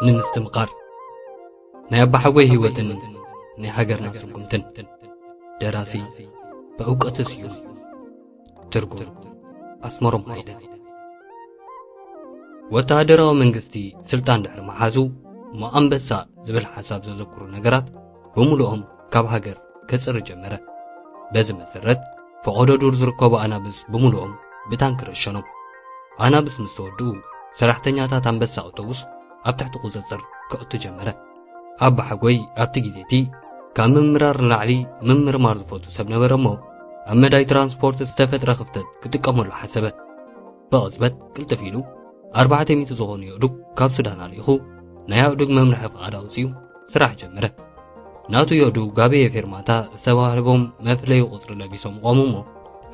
ንምስትምቓር ናይ ኣባሓጎይ ህይወትን ናይ ሃገርና ስጉምትን ደራሲ ብእውቀቱ ስዩም ትርጉም ኣስመሮም ሃይለ ወተሃደራዊ መንግስቲ ስልጣን ድሕሪ መሓዙ ሞኣንበሳ ዝብል ሓሳብ ዘዘክሩ ነገራት ብምሉኦም ካብ ሃገር ከጽሪ ጀመረ በዚ መሰረት ፈቐዶ ዱር ዝርከቡ ኣናብስ ብምሉኦም ብታንኪ ረሸኖም ኣናብስ ምስ ተወድኡ ሰራሕተኛታት ኣንበሳ ኣውቶቡስ ኣብ ትሕቲ ቁጽጽር ከእቱ ጀመረ ኣባሓጎይ ኣብቲ ግዜ እቲ ካብ ምምራር ንላዕሊ ምምርማር ዝፈቱ ሰብ ነበረ እሞ ኣብ መዳይ ትራንስፖርት ዝተፈጥረ ክፍተት ክጥቀመሉ ሓሰበ ብቕጽበት ቅልጥፍ ኢሉ ኣርባዕተ ሚእቲ ዝኾኑ የእዱግ ካብ ሱዳን ኣልኢኹ ናይ ኣእዱግ መምርሒ ፍቓድ ኣውፅኡ ስራሕ ጀመረ ናቱ የእዱግ ጋበየ ፌርማታ ዝተባህልቦም መፍለዩ ቁፅሪ ለቢሶም ቆሙ እሞ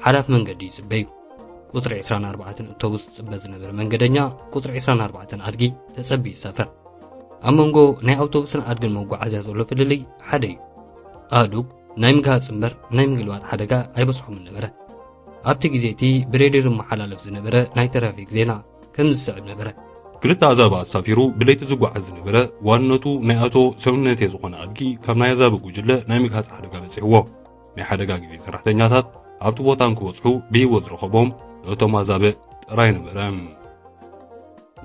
ሓላፍ መንገዲ ይፅበዩ ቁፅሪ 24 እቶቡስ ዝፅበ ዝነበረ መንገደኛ ቁፅሪ 24 ኣድጊ ተፀቢ ይሳፈር ኣብ መንጎ ናይ ኣውቶቡስን ኣድግን መጓዓዝያ ዘሎ ፍልልይ ሓደ እዩ ኣእዱግ ናይ ምግሃፅ እምበር ናይ ምግልባጥ ሓደጋ ኣይበፅሖምን ነበረ ኣብቲ ግዜ እቲ ብሬድዮ ዝመሓላለፍ ዝነበረ ናይ ትራፊክ ዜና ከም ዝስዕብ ነበረ ክልተ ኣዛብ ኣሳፊሩ ብለይቲ ዝጓዓዝ ዝነበረ ዋንነቱ ናይ ኣቶ ሰውነቴ ዝኾነ ኣድጊ ካብ ናይ ኣዛቢ ጉጅለ ናይ ምግሃፅ ሓደጋ በፂሕዎ ናይ ሓደጋ ግዜ ሰራሕተኛታት ኣብቲ ቦታ እንክበጽሑ ብህይወት ዝረኸቦም ነቶም ኣዛብእ ጥራይ ነበረ።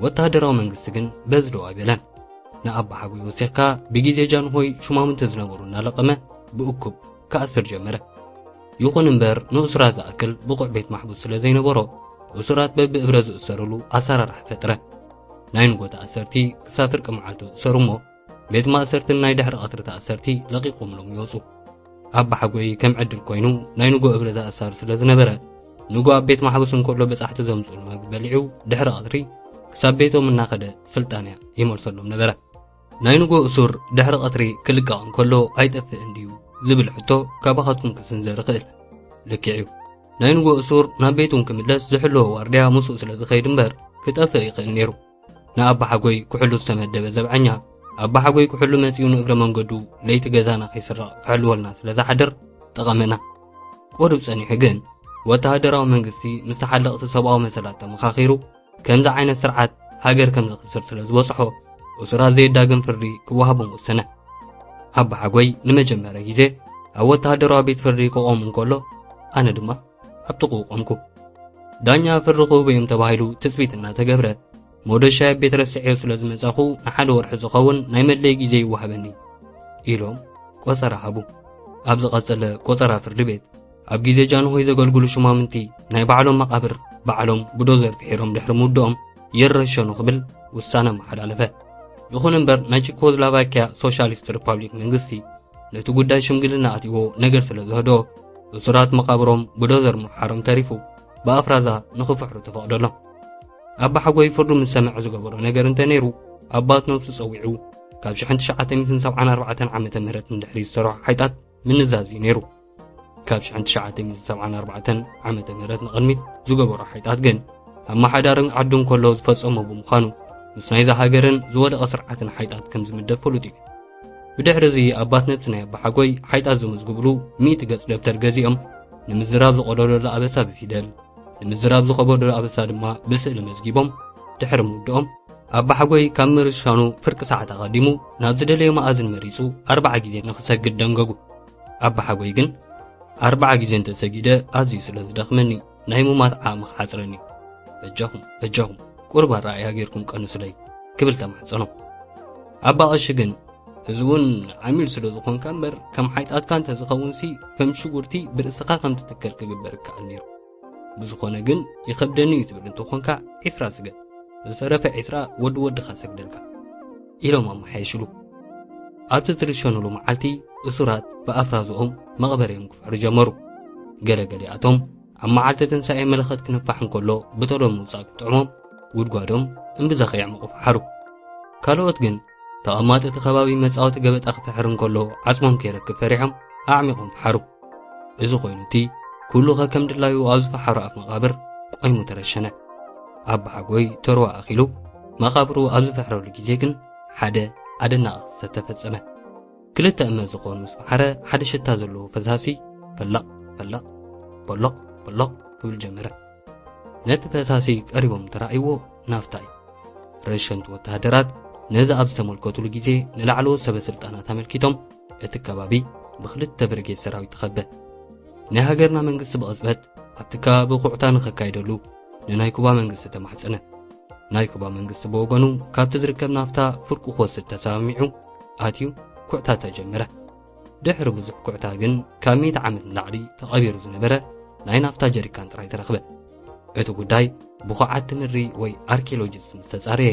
ወተሃደራዊ መንግስቲ ግን በዚ ደው ኣይበለን። ንኣባሓጎይ ወሲኽካ ብግዜ ጃንሆይ ሹማምንቲ ዝነበሩ እናለቐመ ብእኩብ ክኣስር ጀመረ። ይኹን እምበር ንእሱራት ዝኣክል ብቑዕ ቤት ማሕቡስ ስለ ዘይነበሮ እሱራት በብእብረ ዝእሰርሉ ኣሰራርሓ ፈጥረ። ናይ ንጎታ ኣሰርቲ ክሳብ ፍርቂ መዓልቱ እሰሩ እሞ ቤት ማእሰርትን ናይ ድሕሪ ቐትሪ ተኣሰርቲ ለቒቖምሎም ይወጹ ኣባሓጎይ ከም ዕድል ኮይኑ ናይ ንጎ እብረ ዝኣሳር ስለ ዝነበረ ንጎ ኣብ ቤት ማሕበሱ እንከሎ በጻሕቲ ዘምጽሉ መግቢ በሊዑ ድሕሪ ቐትሪ ክሳብ ቤቶም እናኸደ ስልጣንያ ይመልሰሎም ነበረ ናይ ንጎ እሱር ድሕሪ ቐትሪ ክልቀቕ እንከሎ ኣይጠፍእን ድዩ ዝብል ሕቶ ካባኻትኩም ክስንዘር ይኽእል ልክዕ እዩ ናይ ንጎ እሱር ናብ ቤቱን ክምለስ ዝሕለዎ ዋርድያ ምስኡ ስለ ዝኸይድ እምበር ክጠፍእ ይኽእል ነይሩ ንኣባሓጎይ ኩሕሉ ዝተመደበ ዘብዐኛ ኣባሓጎይ ኩሕሉ መጺኡ ንእግረ መንገዱ ለይቲ ገዛና ከይስረቕ ክሕልወልና ስለ ዝሓድር ጠቐመና ቁሩብ ጸኒሑ ግን ወተሃደራዊ መንግስቲ ምስ ተሓለቕቲ ሰብኣዊ መሰላት ተመኻኺሩ ከምዚ ዓይነት ስርዓት ሃገር ከም ዘኽስር ስለ ዝበጽሖ እሱራት ዘየዳግም ፍርዲ ክወሃቦም ወሰነ ኣባሓጎይ ንመጀመርያ ግዜ ኣብ ወተሃደራዊ ቤት ፍርዲ ክቖም እንከሎ ኣነ ድማ ኣብ ጥቕኡ ቆምኩ። ዳኛ ፍሪ ክህቡ እዮም ተባሂሉ ትጽቢት እናተገብረ ሞደሻይ ኣብ ቤት ረስዔዮ ስለ ዝመጻኹ ንሓደ ወርሒ ዝኸውን ናይ መለይ ግዜ ይወሃበኒ ኢሎም ቆጸራ ሃቡ። ኣብ ዝቐጸለ ቆጸራ ፍርዲ ቤት ኣብ ግዜ ጃንሆይ ዘገልግሉ ሹማምንቲ ናይ ባዕሎም መቓብር ባዕሎም ብዶዘር ፍሒሮም ድሕሪ ምውድኦም ይረሸኑ ክብል ውሳነ ኣመሓላለፈ። ይኹን እምበር ናይ ቺኮዝላቫኪያ ሶሻሊስት ሪፓብሊክ መንግስቲ ነቲ ጉዳይ ሽምግልና ኣትይዎ ነገር ስለ ዝህዶ እሱራት መቓብሮም ብዶዘር ምውሓሮም ተሪፉ ብኣፍራዛ ንኽፍሕሩ ተፈቕደሎም ኣባሓጎይ ፍርዱ ምስ ሰምዐ ዝገበሮ ነገር እንተ ነይሩ ኣባት ነብሱ ጸዊዑ ካብ 1974 ዓመተ ምህረት ንድሕሪ ዝሰርሖ ሓይጣት ምንዛዝ እዩ ነይሩ ካብ 1974 ዓመተ ምህረት ንቕድሚት ዝገበሮ ሓይጣት ግን ኣመሓዳርን ዓዱን ከሎ ዝፈጸሞ ብምዃኑ ምስ ናይዛ ሃገርን ዝወደቐ ስርዓትን ሓይጣት ከም ዝምደብ ፍሉጥ እዩ ብድሕሪ እዚ ኣባት ነብሲ ናይ ኣባሓጎይ ሓይጣት ዘመዝግብሉ ሚእቲ ገጽ ደብተር ገዚኦም ንምዝራብ ዝቐደደሉ ኣበሳ ብፊደል ንምዝራብ ዝኸበደሉ ኣበሳ ድማ ብስእሊ መዝጊቦም ድሕሪ ምውድኦም ኣባሓጎይ ካብ ምርሻኑ ፍርቂ ሰዓት ኣቐዲሙ ናብ ዝደለዮ መኣዝን መሪጹ ኣርባዓ ግዜ ንኽሰግድ ደንገጉ ኣባሓጎይ ግን ኣርባዓ ግዜ እንተ ሰጊደ ኣዝዩ ስለ ዝደኽመኒ ናይ ሙማት ዓቕሚ ክሓጽረኒ በጃኹም በጃኹም ቁርብ ኣረኣእያ ጌርኩም ቀንሱለይ ክብል ተማሕጸኖ ኣባ ቐሺ ግን እዚ እውን ዓሚል ስለ ዝኾንካ እምበር ከም ሓይጣትካ እንተ ዝኸውንሲ ከም ሽጉርቲ ብርእስኻ ከም ትትከል ክግበር ይከኣል ነይሩ ብዝኾነ ግን ይኸብደኒ እዩ ትብል እንተኾንካ ዒስራ ስገድ ዝተረፈ ዒስራ ወዲ ወድኻ ሰግደልካ ኢሎም ኣመሓየሽሉ ኣብቲ ዝርሸኑሉ መዓልቲ እሱራት ብኣፍራዝኦም መቕበሪኦም ክፍሕሩ ጀመሩ ገለገሊኣቶም ኣብ መዓልቲ ትንሳኤ መለኸት ክንፋሕ እንከሎ ብተሎ ምውፃእ ክጥዕሞም ጉድጓዶም እምብዛ ከየዕመቑ ፈሓሩ ካልኦት ግን ተቐማጦ እቲ ከባቢ መጻወቲ ገበጣ ክፍሕር እንከሎ ዓጽሞም ከይረክብ ፈሪሖም ኣዕሚቖም ፈሓሩ እዚ ኮይኑ እቲ ኩሉ ከከም ድላዩ ኣብ ዝፈሓሮ ኣፍ መቓብር ቆይሙ ተረሸነ ኣባሓጎይ ተርዋ ኣኺሉ መቓብሩ ኣብ ዝፈሕረሉ ግዜ ግን ሓደ ኣደናቒ ክስተት ተፈጸመ ክልተ እመ ዝኾኑ ምስ ፈሓረ ሓደ ሽታ ዘለዎ ፈሳሲ ፈላቕ ፈላቕ በሎቕ በሎቕ ክብል ጀመረ ነቲ ፈሳሲ ቀሪቦም ተራእይዎ ናፍታ እዩ። ረሸንቲ ወተሃደራት ነዚ ኣብ ዝተመልከቱሉ ግዜ ንላዕለዎት ሰበ ስልጣናት ኣመልኪቶም እቲ ከባቢ ብክልተ ብርጌድ ሰራዊት ተኸበ። ናይ ሃገርና መንግስቲ ብቕጽበት ኣብቲ ከባቢ ኩዕታ ንኸካይደሉ ንናይ ኩባ መንግስቲ ተማሕጸነ። ናይ ኩባ መንግስቲ ብወገኑ ካብቲ ዝርከብ ናፍታ ፍርቁ ክወስድ ተሰማሚዑ ኣትዩ ኩዕታ ተጀመረ። ድሕሪ ብዙሕ ኩዕታ ግን ካብ ሚእቲ ዓመት ንላዕሊ ተቐቢሩ ዝነበረ ናይ ናፍታ ጀሪካን ጥራይ ተረኽበ። እቲ ጉዳይ ብኹዓቲ ምድሪ ወይ ኣርኪኦሎጂስት ምስ ተጻረየ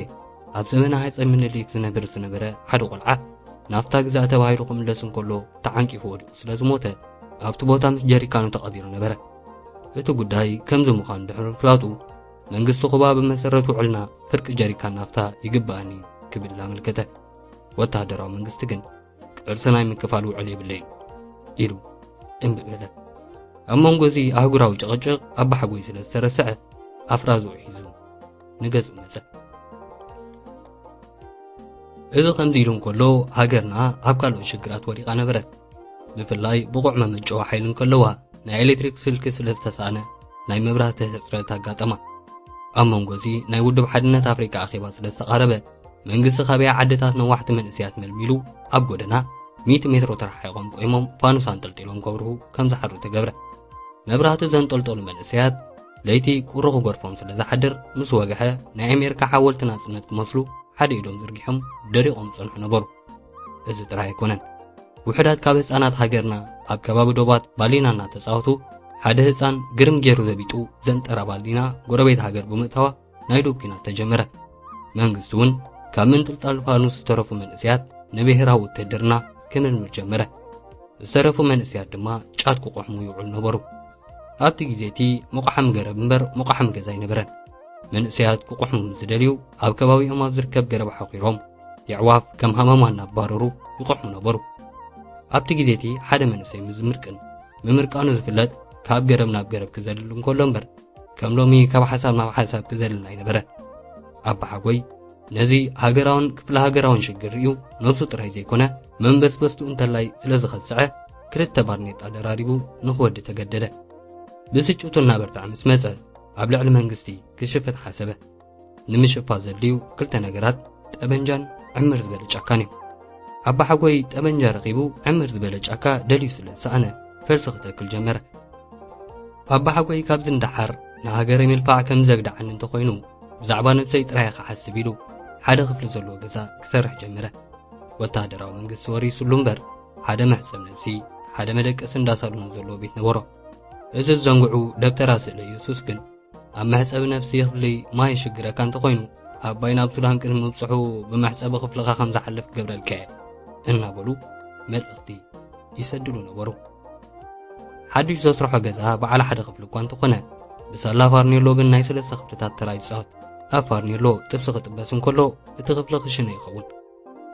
ኣብ ዘመነ ሃይጸ ምኒልክ ዝነብር ዝነበረ ሓደ ቆልዓ ናፍታ ግዛእ ተባሂሉ ክምለስ እንከሎ ተዓንቂፉ ወዲቑ ስለ ዝሞተ ኣብቲ ቦታ ምስ ጀሪካኑ ተቐቢሩ ነበረ። እቲ ጉዳይ ከምዚ ምዃኑ ድሕሪ ምፍላጡ መንግስቲ ኩባ ብመሰረት ውዕልና ፍርቂ ጀሪካን ናፍታ ይግባኣኒ ክብል ኣመልከተ። ወተሃደራዊ መንግስቲ ግን ቅርሲ ናይ ምክፋል ውዕል የብለይ ኢሉ እምቢ በለ ኣብ መንጎ እዚ ኣህጉራዊ ጭቕጭቕ ኣባሓጎይ ስለ ዝተረስዐ ኣፍራዙ ሒዙ ንገጹ መጸ እዚ ከምዚ ኢሉ እንከሎ ሃገርና ኣብ ካልኦት ሽግራት ወዲቓ ነበረት ብፍላይ ብቑዕ መመጨዊ ሓይሊ እንከለዋ ናይ ኤሌክትሪክ ስልኪ ስለ ዝተሳእነ ናይ መብራህቲ ህፅረት ኣጋጠማ ኣብ መንጎ እዚ ናይ ውድብ ሓድነት ኣፍሪቃ ኣኼባ ስለ ዝተቓረበ መንግስቲ ካበያ ዓድታት ነዋሕቲ መንእስያት መልሚሉ ኣብ ጎደና ሚእቲ ሜትሮ ተረሓሒቖም ቆይሞም ፋኑስ ኣንጠልጢሎም ከብርሁ ከም ዝሓድሩ ተገብረ መብራህቲ ዘንጠልጠሉ መንእሰያት ለይቲ ቁሪ ክጎርፎም ስለ ዝሓድር ምስ ወግሐ ናይ ኣሜሪካ ሓወልቲ ናጽነት ክመስሉ ሓደ ኢዶም ዝርጊሖም ደሪቖም ጸንሑ ነበሩ እዚ ጥራይ ኣይኮነን ውሕዳት ካብ ህፃናት ሃገርና ኣብ ከባቢ ዶባት ባሊና እናተፃወቱ ሓደ ህፃን ግርም ገይሩ ዘቢጡ ዘንጠራ ባሊና ጎረቤት ሃገር ብምእታዋ ናይ ዶብ ኲናት ተጀመረ። መንግስቲ እውን ካብ ምንጥልጣል ፋኑስ ዝተረፉ መንእሰያት ንብሔራዊ ውትህድርና ክምልምል ጀመረ። ዝተረፉ መንእሰያት ድማ ጫት ክቆሕሙ ይውዕሉ ነበሩ። ኣብቲ ግዜ እቲ መቑሓም ገረብ እምበር መቑሓም ገዛ ኣይነበረን። መንእሰያት ክቆሕሙ ምስ ዝደልዩ ኣብ ከባቢኦም ኣብ ዝርከብ ገረብ ሓኺሮም የዕዋፍ ከም ሃመማ እናባረሩ ይቆሕሙ ነበሩ። ኣብቲ ግዜ እቲ ሓደ መንእሰይ ምስ ዝምርቅን ምምርቃኑ ዝፍለጥ ካብ ገረብ ናብ ገረብ ክዘልል እንከሎ እምበር ከም ሎሚ ካብ ሓሳብ ናብ ሓሳብ ክዘልል ኣይነበረ ኣባሓጎይ ነዚ ሃገራውን ክፍለ ሃገራውን ሽግር ርእዩ ነብሱ ጥራይ ዘይኮነ መንበስበስቱ እንተላይ ስለ ዝኸስዐ ክልተ ባርኔጣ ደራሪቡ ንኽወዲ ተገደደ ብስጭቱ እናበርትዐ ምስ መጸ ኣብ ልዕሊ መንግስቲ ክሽፍት ሓሰበ ንምሽፋ ዘድልዩ ክልተ ነገራት ጠበንጃን ዕምር ዝበለ ጫካን እዩ። ኣባሓጎይ ጠበንጃ ረኺቡ ዕምር ዝበለ ጫካ ደልዩ ስለ ዝሰኣነ ፈልሲ ክተክል ጀመረ። ኣባሓጎይ ካብዚ ንደሓር ንሃገረ ምልፋዕ ከም ዘግድዓኒ እንተኾይኑ ብዛዕባ ነብሰይ ጥራይ ክሓስብ ኢሉ ሓደ ክፍሊ ዘለዎ ገዛ ክሰርሕ ጀመረ። ወተሃደራዊ መንግስቲ ወሪሱሉ እምበር ሓደ መሕሰብ ነብሲ ሓደ መደቀሲ እንዳ ሳሎን ዘለዎ ቤት ነበሮ። እዚ ዝዘንግዑ ደብተራ ስእለ ኢየሱስ ግን ኣብ መሕጸቢ ነፍሲ ክፍሊ ማይ ይሽግረካ እንተኾይኑ ኣባይ ናብ ሱዳን ቅድሚ ምብጽሑ ብመሕጸቢ ክፍልኻ ከም ዝሓልፍ ክገብረልካ እየ እናበሉ መልእኽቲ ይሰድሉ ነበሩ ሓድሽ ዘስርሖ ገዛ በዓል ሓደ ክፍሊ እኳ እንተኾነ ብሳላ ፋርኔሎ ግን ናይ ሰለስተ ክፍልታት ተራ ይጻወት ኣብ ፋርኔሎ ጥብሲ ክጥበስ እንከሎ እቲ ክፍሊ ክሽነ ይኸውን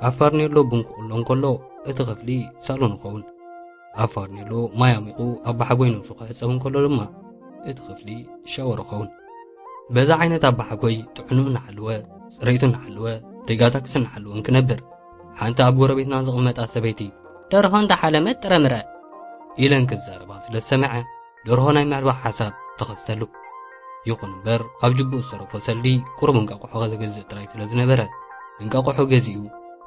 ኣብ ፋርኔሎ ቡን ክቕሎ እንከሎ እቲ ክፍሊ ሳሎን ይኸውን ኣብ ፋርኔሎ ማይ ኣሚቑ ኣብ ባሓጎይ ነብሱ ክሕፀብ እንከሎ ድማ እቲ ክፍሊ ሻወር ይኸውን በዛ ዓይነት ኣብ ባሓጎይ ጥዕኑ እናሓለወ ፅረይቱ እናሓለወ ሪጋታክስ እናሓለወ እንክነብር ሓንቲ ኣብ ጎረቤትና ዝቕመጣ ሰበይቲ ደርሆ እንዳሓለመት ጥረምረ ኢለን ክዛረባ ስለ ዝሰምዐ ደርሆ ናይ ምዕባእ ሓሳብ ተኸስተሉ። ይኹን እምበር ኣብ ጅብኡ ዝተረፎ ሰልዲ ቁሩብ እንቃቑሖ ከዘገዝእ ጥራይ ስለ ዝነበረ እንቃቑሖ ገዚኡ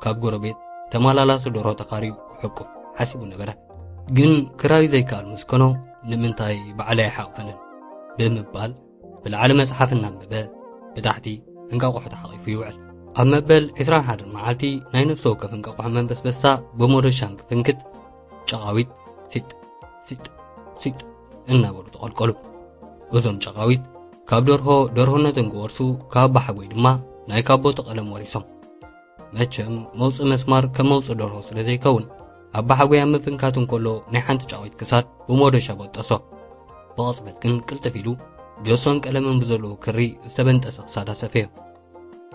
ካብ ጎረቤት ተመላላሱ ደርሆ ተኻርዩ ክሕቁፍ ሓሲቡ ነበረ። ግን ክራዩ ዘይከኣል ምስ ኮኖ ንምንታይ ባዕለይ ኣይሓቕፈንን ብምባል ብላዕሊ መጽሓፍ እናንበበ ብታሕቲ እንቃቑሖ ተሓቒፉ ይውዕል። ኣብ መበል 21 መዓልቲ ናይ ነፍሲ ወከፍ እንቃቑሖ መንበስበስታ ብሞደሻን ክፍንክት ጨቓዊት ሲጥ ሲጥ ሲጥ እናበሉ ተቐልቀሉ። እዞም ጨቓዊት ካብ ደርሆ ደርሆነቶም ክወርሱ ካብ ባሓጎይ ድማ ናይ ካቦቲ ቀለም ወሪሶም። መቸም መውፅእ መስማር ከም መውፅእ ደርሆ ስለ ዘይከውን ኣብ ባሓጎይ ኣብ ምፍንካቱ እንከሎ ናይ ሓንቲ ጨቓዊት ክሳድ ብሞዶሻ በጠሶ። ብቕፅበት ግን ቅልጥፍ ኢሉ ጆሶን ቀለምን ብዘለዎ ክሪ ዝተበንጠሰ ክሳዳ ሰፈዮ።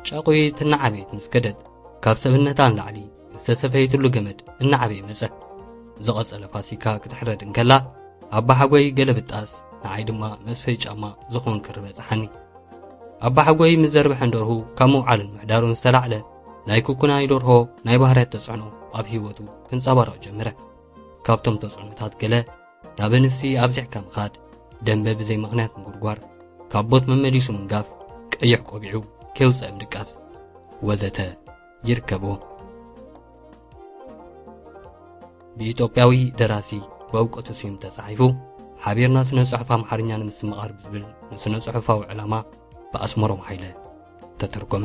ጫቑይት እናዓበየት ምስ ከደት ካብ ሰብነታ ንላዕሊ ዝተሰፈየትሉ ገመድ እናዓበየ መጸ ዝቐጸለ ፋሲካ ክትሕረድ እንከላ ኣባሓጎይ ገለ ብጣስ ንዓይ ድማ መስፈይ ጫማ ዝኾን ክሪ በጽሓኒ ኣባሓጎይ ምስ ዘርብሐን ደርሁ ካብ ምውዓሉን ምሕዳሩን ዝተላዕለ ናይ ኩኩናይ ደርሆ ናይ ባህርያት ተጽዕኖ ኣብ ህይወቱ ክንጸባረቕ ጀመረ ካብቶም ተጽዕኖታት ገለ ናብ ኣንስቲ ኣብዚሕካ ምኻድ፣ ደንበ ብዘይ ምኽንያት ምጉርጓር፣ ካብ ቦት መመሊሱ ምንጋፍ፣ ቀይሕ ቆቢዑ ከይውጸእ ምድቃስ ወዘተ ይርከቦ። ብኢትዮጵያዊ ደራሲ በእውቀቱ ስዩም ተጻሒፉ ሓቢርና ስነ ጽሑፍ ኣምሓርኛ ንምስምቓር ብዝብል ንስነ ጽሑፋዊ ዕላማ ብኣስመሮም ሓይለ ተተርጎመ።